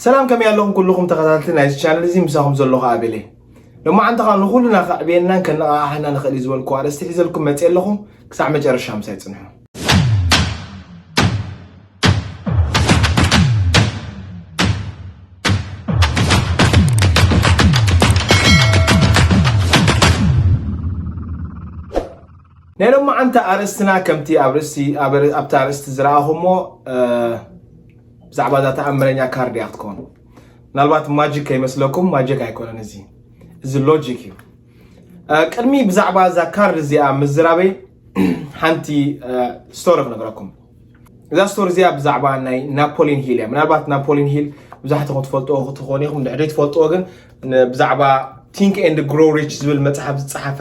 ሰላም ከመይ ኣለኹም ኩልኹም ተኸታተልቲ ናይዚ ቻነል እዚ ምሳኹም ዘለኹ ኣቤል እየ ሎማዓንቲ ከዓ ንኹሉና ከዕብየናን ከነቓሓሕና ንኽእል እዩ ዝበልኩ ኣርእስቲ ሒዘልኩም መፅእ ኣለኹ ክሳዕ መጨረሻ ምሳይ ፅንሑ ናይ ሎማዓንቲ ኣርእስትና ከምቲ ኣብ ርእስቲ ኣብቲ ኣርእስቲ ዝረኣኹሞ ብዛዕባ እዛ ተኣምረኛ ካርድ እያ ክትከውን። ምናልባት ማጂክ ከይመስለኩም ማጂክ ኣይኮነን እዚ እዚ ሎጂክ እዩ። ቅድሚ ብዛዕባ እዛ ካርድ እዚኣ ምዝራበይ ሓንቲ ስቶሪ ክነግረኩም። እዛ ስቶሪ እዚኣ ብዛዕባ ናይ ናፖሊን ሂል እያ። ምናልባት ናፖሊን ሂል ብዛሕትኹም ትፈልጥዎ ክትኾኑ ኢኹም፣ ድሕሪ ትፈልጥዎ ግን ብዛዕባ ቲንክ ኤንድ ግሮ ሪች ዝብል መፅሓፍ ዝፀሓፈ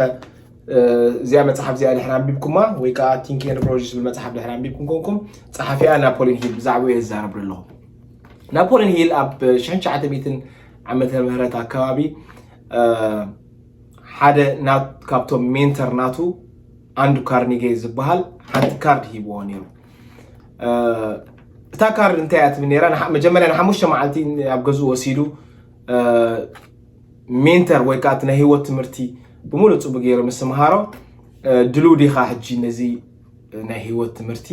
እዚኣ መፅሓፍ እዚኣ ድሕሪ ኣንቢብኩማ ወይ ከዓ ቲንክ ኤንድ ግሮው ዝብል መፅሓፍ ድሕሪ ኣንቢብኩም ኮንኩም ፀሓፊኣ ናፖሊን ሂል ብዛዕባኡ እየ ዝዛረብ ኣለኹ ናፖሊን ሂል ኣብ 1900 ዓመተ ምህረት ኣካባቢ ሓደ ካብቶም ሜንተር ናቱ ኣንዱ ካርኒጌ ዝበሃል ሓንቲ ካርድ ሂብዎ ነይሩ እታ ካርድ እንታይ እያ ትብል ነይራ መጀመርያ ንሓሙሽተ መዓልቲ ኣብ ገዝኡ ወሲዱ ሜንተር ወይ ከዓ እቲ ናይ ህይወት ትምህርቲ ብምሉእ ፅቡቅ ገይሩ ምስ ምሃሮ ድልው ዲኻ ሕጂ ነዚ ናይ ህይወት ትምህርቲ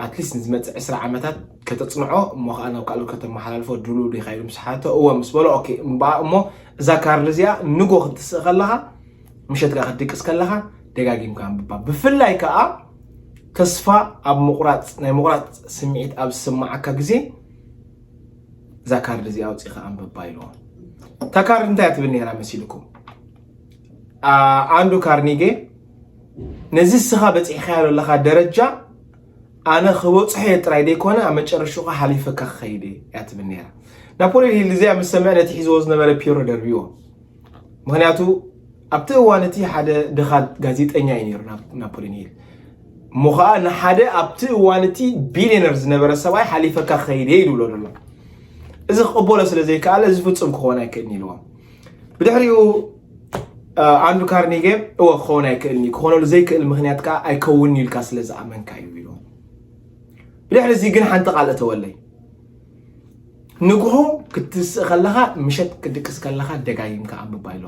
ኣትሊስት ንዝመፅእ ዕስራ ዓመታት ከተፅንዖ እሞ ከዓ ናብ ካልኦት ከተመሓላልፎ ድልው ዲኻ ኢሉ ምስ ሓቶ እወ ምስ በሎ ኦኬ እምበኣ እሞ እዛ ካርድ እዚኣ ንጎ ክትስእ ከለኻ ምሸት ከዓ ክትድቅስ ከለኻ ደጋጊምካ ኣንብባ ብፍላይ ከዓ ተስፋ ኣብ ምቁራፅ ናይ ምቁራፅ ስምዒት ኣብ ዝስማዓካ ግዜ እዛ ካርድ እዚኣ ኣውፂእኻ ኣንብባ ኢልዎ እታ ካርድ እንታይ እያ ትብል ነይራ መሲልኩም ኣንዱ ካርኒጌ ነዚ እስኻ በፂሕኻዮ ዘለኻ ደረጃ ኣነ ክበፅሖ እየ ጥራይ ዘይኮነ ኣብ መጨረሽኡ ከዓ ሓሊፈካ ክኸይድ እየ እያ ትብል ነይራ ናፖሊዮን ሂል እዚኣ ምስ ሰምዐ ነቲ ሒዝዎ ዝነበረ ፒሮ ደርብዎ ምክንያቱ ኣብቲ እዋን እቲ ሓደ ድኻ ጋዜጠኛ እዩ ነይሩ ናፖሊን ሂል እሞ ከዓ ንሓደ ኣብቲ እዋን እቲ ቢልዮነር ዝነበረ ሰብኣይ ሓሊፈካ ከይደ ይብሎ ዘሎ እዚ ክቕበሎ ስለ ዘይከኣለ እዚ ፍፁም ክኸውን ኣይክእልን ኢልዎ ብድሕሪኡ ኣንዱ ካርኒገ እወ ክኸውን ኣይክእልን እዩ ክኾነሉ ዘይክእል ምክንያት ከዓ ኣይከውን ኢልካ ስለ ዝኣመንካ እዩ ኢልዎ ብድሕሪ እዚ ግን ሓንቲ ቃል እተወለይ ንግሆ ክትስእ ከለኻ ምሸት ክድቅስ ከለኻ ደጋጊምካ ኣንብባ ኢሎ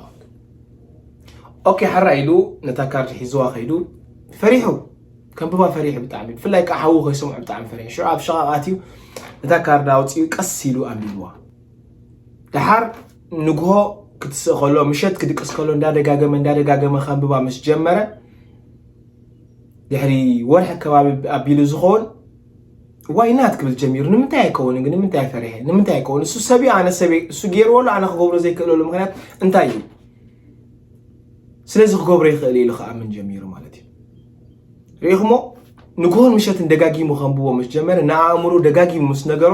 ኦኬ ሓራ ኢሉ ነታ ካርድ ሒዝዋ ከይዱ ፈሪሑ ከንብባ ፈሪሑ ብጣዕሚ ብፍላይ ከዓ ሓዉ ከይሰምዑ ብጣዕሚ ፈሪሑ ሽዑ ኣብ ሸቓቓት እዩ ነታ ካርድ ኣውፅኡ ቀስ ኢሉ ኣንቢብዋ ደሓር ንግሆ ክትስእ ከሎ ምሸት ክድቅስ ከሎ እንዳደጋገመ እንዳደጋገመ ከንብባ ምስ ጀመረ ድሕሪ ወርሒ ከባቢ ኣቢሉ ዝኸውን ዋይ ናት ክብል ጀሚሩ ንምንታይ ኣይከውንን ግን ንምንታይ ኣይፈሪሐ ንምንታይ ኣይከውን እሱ ሰብ እዩ ኣነ ሰብ እሱ ገይርዎ ኣሎ ኣነ ክገብሮ ዘይክእለሉ ምክንያት እንታይ እዩ ስለዚ ክገብሮ ይኽእል ኢሉ ክኣምን ጀሚሩ ማለት እዩ ርኢኹሞ ንግሆን ምሸትን ደጋጊሙ ከንብቦ ምስ ጀመረ ንኣእምሮ ደጋጊሙ ምስ ነገሮ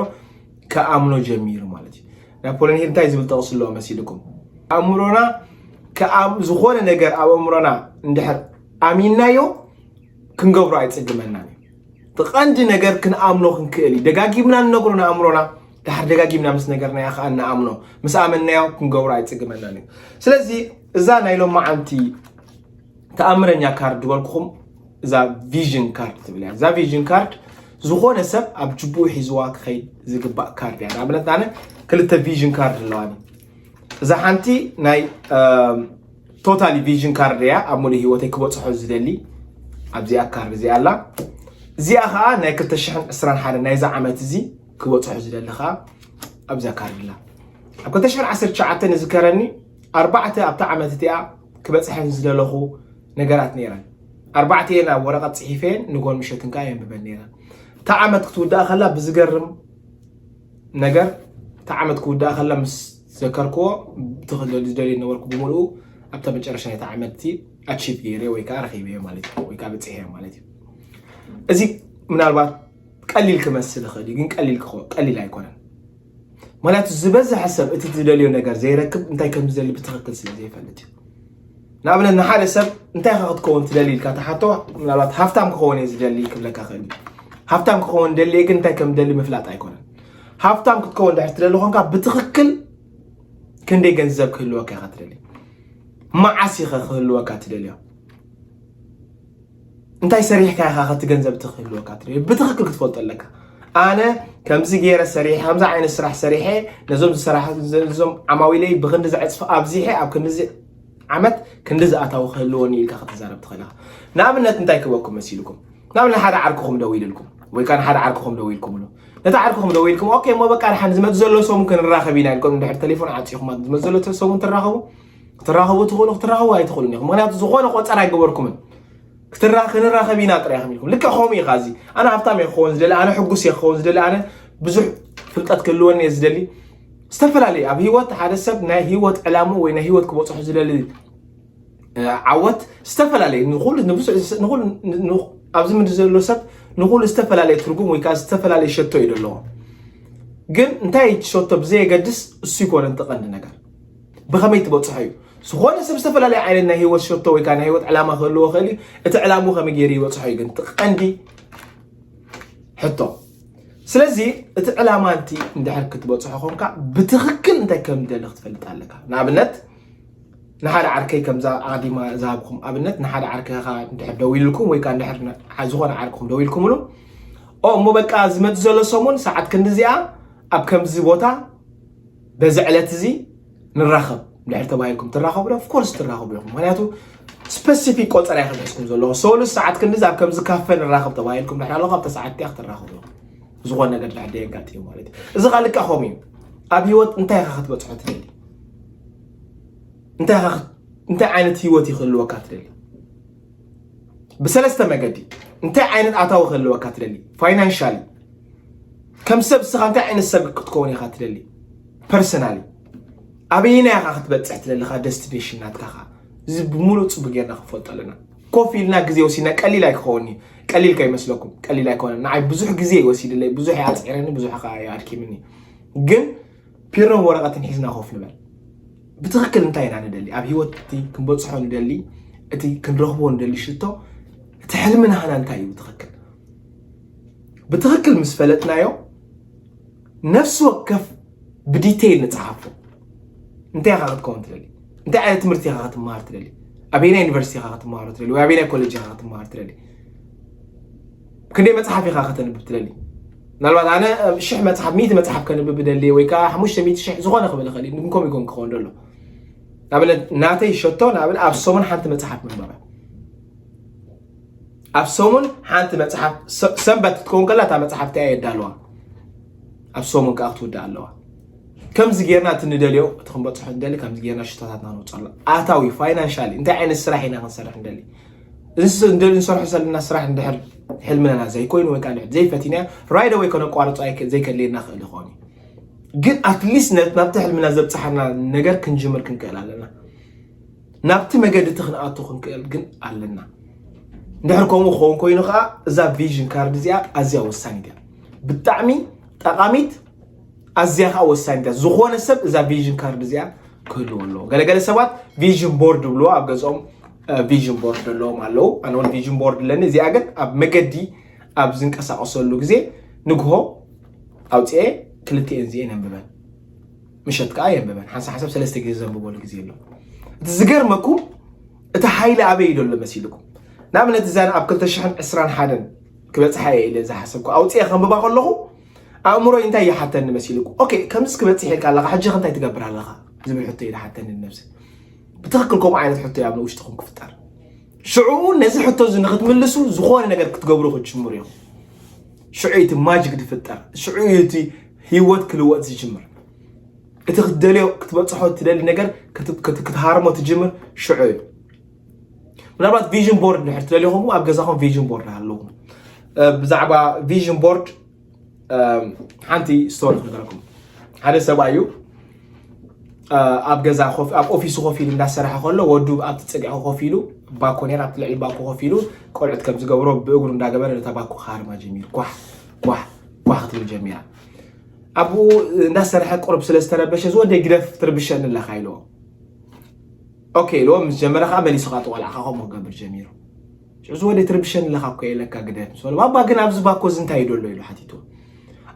ክኣምኖ ጀሚሩ ማለት እዩ ናፖሊን ሂል እንታይ ዝብል ጠቕሱ ኣለዎ መሲልኩም ኣእምሮና ዝኾነ ነገር ኣብ ኣእምሮና እንድሕር ኣሚናዮ ክንገብሮ ኣይፅግመናን እዩ እቲ ቀንዲ ነገር ክንኣምኖ ክንክእል እዩ። ደጋጊምና ንነግሮ ንኣእምሮና ድሓር ደጋጊምና ምስ ነገርናዮ ከዓ ንኣምኖ ምስ ኣመናዮ ክንገብሮ ኣይፅግመናን እዩ ስለዚ እዛ ናይ ሎማዓንቲ ተኣምረኛ ካርድ ዝበልኩኹም እዛ ቪዥን ካርድ ትብል እያ እዛ ቪዥን ካርድ ዝኾነ ሰብ ኣብ ጅቡኡ ሒዝዋ ክኸይድ ዝግባእ ካርድ እያ ንኣብነት ኣነ ክልተ ቪዥን ካርድ ኣለዋኒ እዛ ሓንቲ ናይ ቶታሊ ቪዥን ካርድ እያ ኣብ ሙሉእ ሂወተይ ክበፅሖ ዝደሊ ኣብዚኣ ካርድ እዚኣ ኣላ እዚኣ ከዓ ናይ 221 ናይዛ ዓመት እዚ ክበፅሖ ዝደሊ ከዓ ኣብዛ ካርድ ኣላ ኣብ 219 ዝከረኒ ኣርባዕተ ኣብታ ዓመት እቲኣ ክበፅሐን ዝደለኹ ነገራት ነይረን ኣርባዕተ እየን ኣብ ወረቐት ፅሒፈን ንጎን ምሸትን ከዓ የንብበን ነይረ እታ ዓመት ክትውዳእ ከላ ብዝገርም ነገር እታ ዓመት ክውዳእ ከላ ምስ ዘከርክዎ ብቲ ዝደልዮ ዝነበርኩ ብምልኡ ኣብታ መጨረሻ ናይታ ዓመት እቲ ኣቺቭ ገይረ ወይ ከዓ ረኺበዮ ማለት እዩ ወይ ከዓ በፂሐዮ ማለት እዩ እዚ ምናልባት ቀሊል ክመስል ይኽእል እዩ ግን ቀሊል ቀሊል ኣይኮነን ምክንያቱ ዝበዝሐ ሰብ እቲ ዝደልዮ ነገር ዘይረክብ እንታይ ከም ዝደሊ ብትክክል ስለ ዘይፈልጥ እዩ ንኣብነት ንሓደ ሰብ እንታይ ኢኻ ክትከውን ትደሊ ኢልካ ተሓቶ ምናልባት ሃፍታም ክኸውን እየ ዝደሊ ክብለካ ክእል እዩ ሃብታም ክኸውን ደልየ ግን እንታይ ከም ደሊ ምፍላጥ ኣይኮነን ሃብታም ክትከውን ድሕር ትደሊ ኮንካ ብትኽክል ክንደይ ገንዘብ ክህልወካ ኢኻ ትደሊ መዓስ ኢኸ ክህልወካ ትደልዮ እንታይ ሰሪሕካ ኢኻ ከቲ ገንዘብ እቲ ክህልወካ ትደልዮ ብትኽክል ክትፈልጦ ኣለካ ኣነ ከምዚ ገይረ ሰሪሐ ከምዚ ዓይነት ስራሕ ሰሪሐ ነዞም ዝሰራሕዞም ዓማዊለይ ብክንዲ ዘዕፅፊ ኣብዚሐ ኣብ ክንዲዚ ዓመት ክንዲ ዝኣታዊ ክህልወኒ ኢልካ ክትዛረብ ትኽእል ኢኻ ንኣብነት እንታይ ክበኩም መሲልኩም ንኣብነት ሓደ ዓርክኹም ደው ኢልልኩም ወይ ከዓ ንሓደ ዓርክኹም ደው ኢልኩምሉ ነቲ ዓርክኹም ደው ኢልኩም ኦኬ እሞ በቃ ንሓን ዝመፅ ዘሎ ሰሙን ክንራኸብ ኢና ኢልኩም ድሕሪ ቴሌፎን ዓፂኹም ዝመፅ ዘሎ ሰሙን ትራኸቡ ክትራኸቡ ትኽእሉ ክትራኸቡ ኣይትኽእሉን ኢኹም ምክንያቱ ዝኾነ ቆፀር ኣይገበርኩምን ክትራ ክንራኸብ ኢና ጥራይ ኢኹም ኢልኩም ልክዕ ከምኡ ኢኻ እዚ ኣነ ሃብታም እየ ክኸውን ዝደሊ ኣነ ሕጉስ እየ ክኸውን ዝደሊ ኣነ ብዙሕ ፍልጠት ክህልወኒ እየ ዝደሊ ዝተፈላለዩ ኣብ ሂወት ሓደ ሰብ ናይ ሂወት ዕላሙ ወይ ናይ ሂወት ክበፅሑ ዝደሊ ዓወት ዝተፈላለዩ ኣብዚ ምድሪ ዘሎ ሰብ ንኩሉ ዝተፈላለየ ትርጉም ወይ ከዓ ዝተፈላለየ ሸቶ እዩ ዘለዎ ግን እንታይ ሸቶ ብዘየገድስ እሱ ይኮነ ተቐንዲ ነገር ብኸመይ ትበፅሖ እዩ ዝኾነ ሰብ ዝተፈላለየ ዓይነት ናይ ህይወት ሸቶ ወይ ከዓ ናይ ህይወት ዕላማ ክህልዎ ክእል እዩ እቲ ዕላሙ ከመይ ገይሩ ይበፅሖ እዩ ግን ቀንዲ ሕቶ ስለዚ እቲ ዕላማ እንቲ እንድሕር ክትበፅሖ ኮንካ ብትክክል እንታይ ከም ደሊ ክትፈልጥ ኣለካ ንኣብነት ንሓደ ዓርከይ ከምዛ ኣዲማ ዝሃብኩም ኣብነት ንሓደ ዓርከኻ እንድሕር ደው ኢልኩም ወይ ከዓ እንድሕር ዝኾነ ዓርክኹም ደው ኢልኩምሉ ኦ እሞ በቃ ዝመፅ ዘሎ ሰሙን ሰዓት ክንዲ እዚኣ ኣብ ከምዚ ቦታ በዚ ዕለት እዚ ንራኸብ ድሕር ተባሂልኩም ትራኸቡ ዶ ኦፍኮርስ ትራኸቡ ኢኹም ምክንያቱ ስፐሲፊክ ቆፀራ ይክደስኩም ዘለዎ ሰሉስ ሰዓት ክንዲዚ ኣብ ከምዚ ካፈ ንራኸብ ተባሂልኩም ድሕር ኣለኹ ኣብተ ሰዓት ዲያ ክትራኸቡ ኢኹም ዝኾነ ነገር ድሕር ደየጋጥዩ ማለት እዩ እዚ ካ ልካ ከምኡ እዩ ኣብ ህይወት እንታይ ኢኻ ክትበፅሖ ትደሊ እንታይ ዓይነት ህይወት ይክህልወካ ትደሊ ብሰለስተ መገዲ እንታይ ዓይነት ኣታዊ ክህልወካ ትደሊ ፋይናንሻሊ ከም ሰብ ስኻ እንታይ ዓይነት ሰብ ክትከውን ኢኻ ትደሊ ፐርሰናሊ ኣበየና ኢኻ ክትበፅሕ ትደልኻ ደስቲኔሽን ናትካ ኻ እዚ ብምሉእ ፅቡ ጌርና ክንፈልጦ ኣለና ኮፍ ኢልና ግዜ ወሲድና ቀሊል ኣይክኸውን እዩ ቀሊል ከይመስለኩም ቀሊል ኣይኮነን ንዓይ ብዙሕ ግዜ ወሲድለይ ብዙሕ ኣፅዒረኒ ብዙሕ ኣድኪምኒ ግን ፒሮን ወረቐትን ሒዝና ኮፍ ንበል። ብትኽክል እንታይ ኢና ንደሊ? ኣብ ህይወት እቲ ክንበፅሖ ንደሊ እቲ ክንረኽቦ ንደሊ ሽቶ እቲ ሕልሚ ናህና እንታይ እዩ ብትኽክል? ብትኽክል ምስ ፈለጥናዮ ነፍሲ ወከፍ ብዲቴይል ንፅሓፎ እንታይ ኢኻ ክትከውን ትደሊ እንታይ ዓይነት ትምህርቲ ኢኻ ክትመሃር ትደሊ ኣበየናይ ዩኒቨርሲቲ ኢኻ ክትመሃሮ ትደሊ ወይ ኣበየናይ ኮሌጅ ኢኻ ክትመሃር ትደሊ ክንደይ መጽሓፍ ኢኻ ከተንብብ ትደሊ? ምናልባት ኣነ ሽሕ መጽሓፍ ሚእቲ መጽሓፍ ከንብብ ደልየ ወይ ከዓ ሓሙሽተ ሚእቲ ሽሕ ዝኾነ ክብል ይኽእል እዩ ንኮም ይኮን ክኸውን ደሎ ንኣብነት ናተይ ሸቶ ንኣብነት ኣብ ሰሙን ሓንቲ መጽሓፍ ምንበበ ኣብ ሰሙን ሓንቲ መጽሓፍ ሰንበት ክትከውን ከላ እታ መጽሓፍ እቲኣ የዳለዋ ኣብ ሰሙን ከዓ ክትውዳእ ኣለዋ ከምዚ ጌርና እቲ ንደልዮ እቲ ክንበፅሖ ንደሊ ከምዚ ጌርና ሽቶታትና ንውፅኣሉ ኣታዊ ፋይናንሻሊ እንታይ ዓይነት ስራሕ ኢና ክንሰርሕ ንደሊ እዚ ንሰርሖ ዘለና ስራሕ እንድሕር ሕልምና ዘይኮይኑ ወይ ከዓ እንድሕር ዘይፈቲናዮ ራይድ ኣወይ ከነቋርፆ ዘይከድልየና ክእል ይኸውን እዩ ግን ኣትሊስት ናብቲ ሕልምና ዘብፅሓና ነገር ክንጅምር ክንክእል ኣለና ናብቲ መገዲ እቲ ክንኣቱ ክንክእል ግን ኣለና እንድሕር ከምኡ ክኸውን ኮይኑ ከዓ እዛ ቪዥን ካርድ እዚኣ ኣዝያ ወሳኒት እያ ብጣዕሚ ጠቃሚት ኣዝያ ከዓ ወሳኒት እያ ዝኾነ ሰብ እዛ ቪዥን ካርድ እዚኣ ክህልዎ ኣለዎ ገለገለ ሰባት ቪዥን ቦርድ ብልዎ ኣብ ገዝኦም ቪዥን ቦርድ ዘለዎም ኣለዉ ኣነ እውን ቪዥን ቦርድ ኣለኒ እዚኣ ግን ኣብ መገዲ ኣብ ዝንቀሳቀሰሉ ግዜ ንግሆ ኣውፅኤ ክልቲኤን እዚኤን የንብበን ምሸት ከዓ የንብበን ሓንሳ ሓሳብ ሰለስተ ግዜ ዘንብበሉ ግዜ ኣሎ እቲ ዝገርመኩም እቲ ሓይሊ ኣበይ ዘሎ መሲልኩም ንኣብነት እዛን ኣብ 221 ክበፅሓ እየ ኢለ ዝሓሰብኩ ኣውፅኤ ከንብባ ከለኹ ኣእምሮይ እንታይ ይሓተኒ መሲልኩ ኦኬ ከምዚ ክበፅሕ ኢልካ ኣለካ ሕጂ ከ እንታይ ትገብር ኣለካ ዝብል ሕቶ እዩ ዝሓተኒ ንነብሲ ብትኽክል ከምኡ ዓይነት ሕቶ ኣብ ንውሽጥኹም ክፍጠር ሽዑ ነዚ ሕቶ እዚ ንክትምልሱ ዝኾነ ነገር ክትገብሩ ክትጅምሩ እዮም ሽዑ እቲ ማጅግ ዝፍጠር ሽዑ እቲ ህይወት ክልወጥ ዝጅምር እቲ ክትደልዮ ክትበፅሖ ትደሊ ነገር ክትሃርሞ ትጅምር ሽዑ እዩ ምናልባት ቪዥን ቦርድ ንድሕር ትደልኹም ኣብ ገዛኹም ቪዥን ቦርድ ኣለኹም ብዛዕባ ቪዥን ቦርድ ሓንቲ ስቶሪ ክነገረኩም ሓደ ሰብኣይ እዩ ኣብ ገዛ ኣብ ኦፊሱ ኮፍ ኢሉ እንዳሰራሐ ከሎ ወዱ ኣብቲ ፀግዒ ኮፍ ኢሉ ባኮ ነር ኣብቲ ልዕሊ ባኮ ኮፍ ኢሉ ቆልዑት ከም ዝገብሮ ብእግሩ እንዳገበረ ነታ ባኮ ክሃርማ ጀሚሩ ኳሕ ኳሕ ኳሕ ክትብል ጀሚራ ኣብኡ እንዳሰረሐ ቁርብ ስለ ዝተረበሸ ዝወደ ግደፍ ትርብሸኒ ኣለካ ኢልዎ ኦኬ ኢልዎ ምስ ጀመረ ከዓ መሊሱ ከዓ ተቆልዕካ ከምኡ ክገብር ጀሚሩ ሕዚ ወደይ ትርብሸኒ ኣለካ እኮ የለካ ግደፍ ምስ በሎ ባባ ግን ኣብዚ ባኮ እዚ እንታይ እዩ ደሎ ኢሉ ሓቲቱ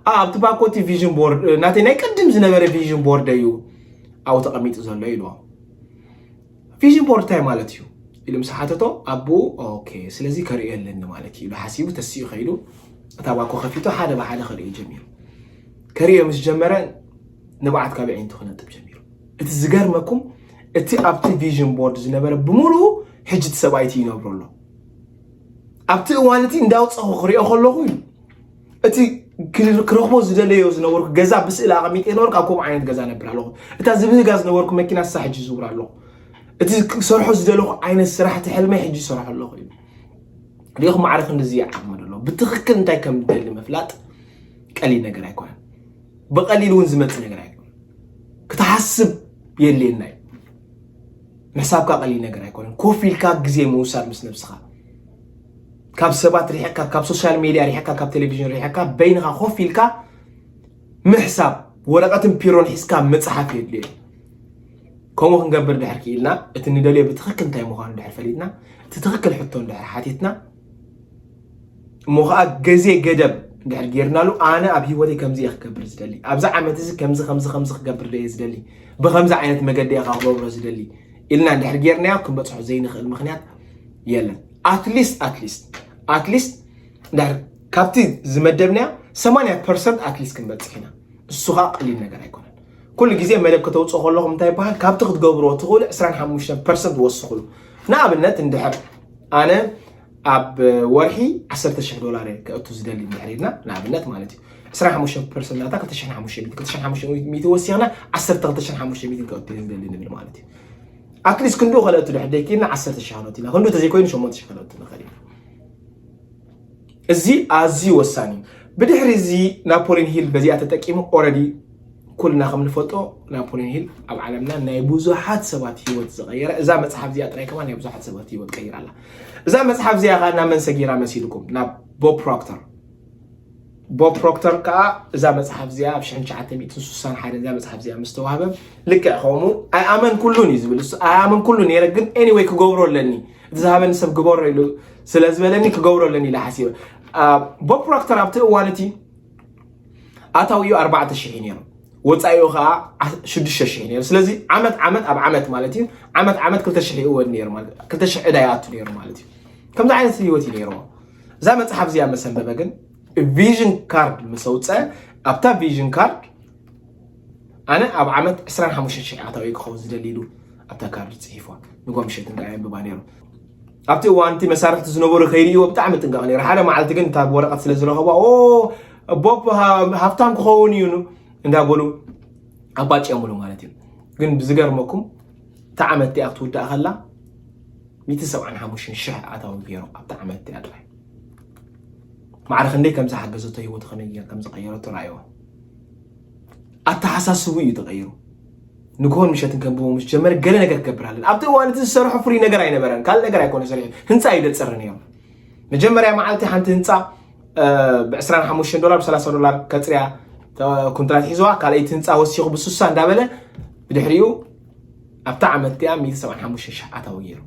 ኣ ኣብቲ ባኮ እቲ ቪዥን ቦርድ እ፣ ናተይ ናይ ቅድም ዝነበረ ቪዥን ቦርድ እዩ ኣብኡ ተቐሚጡ ዘሎ ኢልዎ ቪዥን ቦርድ እንታይ ማለት እዩ ኢሉ ምስ ሓተቶ ኣቦኡ ኦኬ ስለዚ ከርእዮ ኣለኒ ማለት እዩ ኢሉ ሓሲቡ ተሲኡ ከይዱ እታ ባኮ ከፊቱ ሓደ ብሓደ ከርእዩ ጀሚሩ ከርእዮ ምስ ጀመረ ንብዓት ካብ ኣዒንቱ ክነጥብ ጀሚሩ እቲ ዝገርመኩም እቲ ኣብቲ ቪዥን ቦርድ ዝነበረ ብምሉኡ ሕጂ እቲ ሰብኣይቲ ይነብሮ ኣሎ ኣብቲ እዋን እቲ እንዳውፀኹ ክሪኦ ከለኹ እዩ እቲ ክረኽቦ ዝደለዮ ዝነበርኩ ገዛ ብስእሊ ኣቐሚጠ ነበርኩ ኣብ ከምኡ ዓይነት ገዛ ነብር ኣለኹ እታ ዝብህጋ ዝነበርኩ መኪና ሳ ሕጂ ዝውር ኣለኹ እቲ ክሰርሖ ዝደለኹ ዓይነት ስራሕቲ ሕልመይ ሕጂ ይሰርሖ ኣለኹ እዩ ሪኢኹም ማዕረ ክንዲዚ ይዓቕሚ ደሎ ብትኽክል እንታይ ከም ዝደሊ ምፍላጥ ቀሊል ነገር ኣይኮነን ብቐሊል እውን ዝመፅእ ነገር ኣይኮነ ክትሓስብ የድልየና እዩ ምሕሳብካ ቀሊል ነገር ኣይኮነን ኮፍ ኢልካ ግዜ ምውሳድ ምስ ነብስኻ ካብ ሰባት ሪሕካ ካብ ሶሻል ሜድያ ሪሕካ ካብ ቴሌቪዥን ሪሕካ በይንኻ ኮፍ ኢልካ ምሕሳብ ወረቐትን ፒሮን ሒዝካ መፅሓፍ የድልዮ ከምኡ ክንገብር ድሕር ክኢልና እቲ ንደልዮ ብትኽክል እንታይ ምዃኑ ድሕር ፈሊጥና እቲ ትኽክል ሕቶ ድሕር ሓቲትና እሞ ከዓ ገዜ ገደብ እንድሕር ጌርናሉ ኣነ ኣብ ሂወተይ ከምዚ እየ ክገብር ዝደሊ ኣብዚ ዓመት እዚ ከምዚ ከምዚ ከምዚ ክገብር ደየ ዝደሊ ብከምዚ ዓይነት መገዲ እየ ክገብሮ ዝደሊ ኢልና እንድሕር ጌርናዮ ክንበፅሖ ዘይንኽእል ምክንያት የለን ኣትሊስት ኣትሊስት ኣትሊስት እንድሕር ካብቲ ዝመደብናዮ ሰማንያ ፐርሰንት ኣትሊስት ክንበፅሕ ኢና እሱ ከዓ ቀሊል ነገር ኣይኮነን ኩሉ ግዜ መደብ ከተውፅኡ ከለኹም እንታይ ይበሃል ካብቲ ክትገብርዎ ትኽእሉ 25 ፐርሰንት ወስኽሉ ንኣብነት እንድሕር ኣነ ኣብ ወርሒ 10 ሽሕ ዶላር እየ ከእቱ ዝደሊ እንድሕር ኢልና ንኣብነት ማለት እዩ 25 ፐርሰንት ናታ 2500 ወሲኽና 12500 ከእቱ እየ ዝደሊ ንብል ማለት እዩ ኣትሊስት ክንዱ ከለእቱ ድሕር ደይክኢልና 10 ሽሕ ከነእቱ ኢና ክንዱ ተዘይኮይኑ 8 ሽሕ ከነእቱ ንኽእል ኢና እዚ ኣዝዩ ወሳኒ እዩ። ብድሕሪ እዚ ናፖሊን ሂል በዚኣ ተጠቂሙ ኦረዲ ኩልና ከም ንፈልጦ ናፖሊን ሂል ኣብ ዓለምና ናይ ብዙሓት ሰባት ሂወት ዝቐየረ እዛ መጽሓፍ እዚኣ ጥራይ ከማ ናይ ብዙሓት ሰባት ሂወት ቀይራ ኣላ እዛ መጽሓፍ እዚኣ ከኣ ናብ መን ሰጊራ መሲልኩም ናብ ቦብ ፕሮክተር ቦብ ፕሮክተር ከዓ እዛ መጽሓፍ እዚኣ ኣብ 1961 እዛ መጽሓፍ እዚኣ ምስ ተዋህበ ልክዕ ከምኡ ኣይኣመን ኩሉን እዩ ዝብል እሱ ኣይኣመን ኩሉን ነረ ግን ኤኒወይ ክገብሮ ኣለኒ እቲ ዝሃበኒ ሰብ ግበሮ ኢሉ ስለ ዝበለኒ ክገብሮ ኣለኒ ኢለ ሓሲበ ቦብ ፕሮክተር ኣብቲ እዋን እቲ ኣታዊኡ ኣርባዕተ ሽሕ ነይሩ ወፃኢኡ ከዓ ሽዱሽተ ሽሕ ነይሩ ስለዚ ዓመት ዓመት ኣብ ዓመት ማለት እዩ ዓመት ዓመት ክልተ ሽሕ ይእወድ ነይሩ ማለት ክልተ ሽሕ ዕዳ ይኣቱ ነይሩ ማለት እዩ ከምዚ ዓይነት ህይወት እዩ ነይርዎ እዛ መፅሓፍ እዚኣ መሰንበበ ግን ቪዥን ካርድ ምስ ኣውፀ ኣብታ ቪዥን ካርድ ኣነ ኣብ ዓመት ዕስራን ሓሙሽተን ሽሕ ኣታዊ እየ ክኸውን ዝደሊ ኢሉ ኣብታ ካርድ ጽሒፏ። ንጓ ምሸት እንዳ የንብባ ነይሩ። ኣብቲ እዋን እቲ መሳርሕቲ ዝነበሩ ከይርእይዎ ብጣዕሚ ይጥንቀቕ ነይሩ። ሓደ መዓልቲ ግን እታ ወረቐት ስለ ዝረኸቧ ኦ ቦብ ሃብታም ክኸውን እዩ እንዳበሉ ኣባጭዮምሉ ማለት እዩ። ግን ብዝገርመኩም እታ ዓመት እቲኣ ክትውዳእ ከላ ሚእቲ ሰብዓን ሓሙሽተን ሽሕ ኣታዊ ገይሩ ኣብታ ዓመት እቲኣ ጥራይ ማዕረ ክንደይ ከም ዝሓገዘቶ ህይወቱ ከመይ ከም ዝቐየረቶ ረኣይዎ። ኣተሓሳስቡ እዩ ተቐይሩ። ንግሆን ምሸትን ከንብቦ ምስ ጀመረ ገለ ነገር ክገብር ኣለኒ ኣብቲ እዋን እቲ ዝሰርሖ ፍሉይ ነገር ኣይነበረን ካልእ ነገር ኣይኮነ ሰሪሑ ህንፃ እዩ ደፅር ነይሩ መጀመርያ መዓልቲ ሓንቲ ህንፃ ብ25 ዶላር ብ30 ዶላር ከፅርያ ኩንትራት ሒዝዋ ካልኣይቲ ህንፃ ወሲኹ ብስሳ እንዳበለ ብድሕሪኡ ኣብታ ዓመት እቲኣ 175 ሺሕ ኣታዊ ገይሩ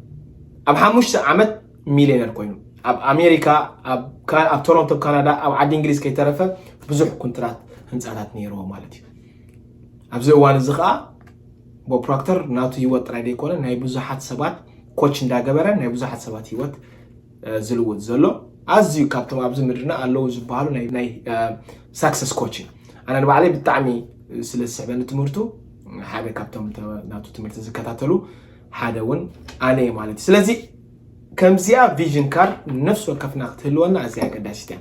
ኣብ ሓሙሽተ ዓመት ሚልዮነር ኮይኑ ኣብ ኣሜሪካ ኣብ ቶሮንቶ ካናዳ ኣብ ዓዲ እንግሊዝ ከይተረፈ ብዙሕ ኩንትራት ህንፃታት ነይርዎ ማለት እዩ ኣብዚ እዋን እዚ ከዓ ቦብ ፕሮክተር ናቱ ህይወት ጥራይ ዘይኮነ ናይ ብዙሓት ሰባት ኮች እንዳገበረ ናይ ብዙሓት ሰባት ህይወት ዝልውጥ ዘሎ ኣዝዩ ካብቶም ኣብዚ ምድርና ኣለዉ ዝበሃሉ ናይ ሳክሰስ ኮች እዩ ኣነ ንባዕለይ ብጣዕሚ ስለ ዝስዕበኒ ትምህርቱ ሓደ ካብቶም ናቱ ትምህርቲ ዝከታተሉ ሓደ እውን ኣነ እየ ማለት እዩ ስለዚ ከምዚኣ ቪዥን ካርድ ንነፍሲ ወከፍና ክትህልወና ኣዝያ ኣገዳሲት እያ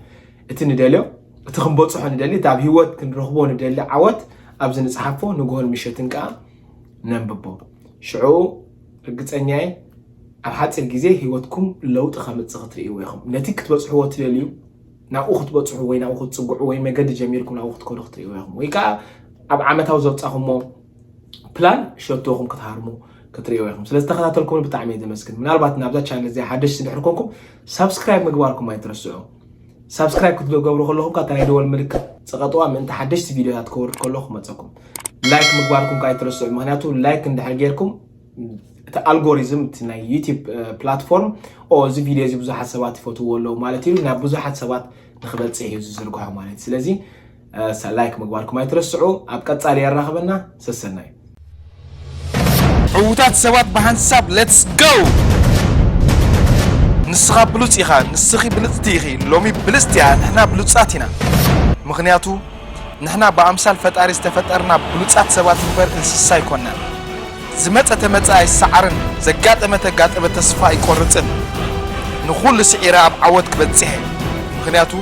እቲ ንደልዮ እቲ ክንበፅሖ ንደሊ እቲ ኣብ ሂወት ክንረኽቦ ንደሊ ዓወት ኣብዚ ንፅሓፎ ንግሆን ምሸትን ከዓ ነንብቦ ሽዑ ርግፀኛ እየ ኣብ ሓፂር ግዜ ሂወትኩም ለውጢ ከምፅእ ክትርእይዎ ኢኹም ነቲ ክትበፅሕዎ ትደልዩ ናብኡ ክትበፅሑ ወይ ናብኡ ክትፅግዑ ወይ መገዲ ጀሚርኩም ናብኡ ክትከዱ ክትርእይዎ ኢኹም ወይ ከዓ ኣብ ዓመታዊ ዘውፃኹሞ ፕላን ሸቶኹም ክትሃርሙ ክትሪእዎ ኢኹም ስለ ዝተኸታተልኩም ብጣዕሚ እየ ዘመስግን ምናልባት ናብዛ ቻነል እዚኣ ሓደሽ ስድሕር ኮንኩም ሳብስክራይብ ምግባርኩም ኣይትረስዑ ሳብስክራይብ ክትገብሩ ከለኹም ካብታ ናይ ደወል ምልክት ፀቐጥዋ ምእንቲ ሓደሽቲ ቪድዮታት ከወርድ ከለኹ ክመፀኩም ላይክ ምግባርኩም ከዓ ኣይትረስዑ ምክንያቱ ላይክ እንድሕር ጌርኩም እቲ ኣልጎሪዝም እቲ ናይ ዩቲብ ፕላትፎርም ኦ እዚ ቪድዮ እዚ ብዙሓት ሰባት ይፈትዎ ኣለዉ ማለት እዩ ናብ ብዙሓት ሰባት ንክበፅሕ እዩ ዝዝርግሖ ማለት እዩ ስለዚ ላይክ ምግባርኩም ኣይትረስዑ። ኣብ ቀጻሊ የራኽበና። ሰሰናዩ። ዕውታት ሰባት ብሓንሳብ let's go ንስኻ ብሉጽ ኢኻ ንስኺ ብልጽቲ ኢኺ ሎሚ ብልጽቲ እያ ንሕና ብሉጻት ኢና ምኽንያቱ ንሕና ብኣምሳል ፈጣሪ ዝተፈጠርና ብሉጻት ሰባት እምበር እንስሳ ኣይኮናን። ዝመጸ ተመጸ ኣይሰዓርን ዘጋጠመ ተጋጠመ ተስፋ ኣይቆርጽን ንኹሉ ስዒረ ኣብ ዓወት ክበጽሕ እየ ምኽንያቱ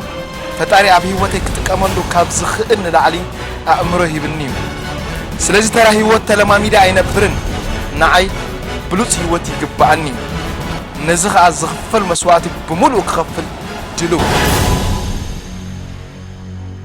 ፈጣሪ ኣብ ሂወተይ ክጥቀመሉ ካብ ዝኽእል ንላዕሊ ኣእምሮ ሂብኒ እዩ ስለዚ ተራ ሂወት ተለማሚደ ኣይነብርን ንዓይ ብሉጽ ሂወት ይግበኣኒ እዩ ነዚ ኸኣ ዝኽፈል መስዋእቲ ብሙሉኡ ክኸፍል ድልው እየ።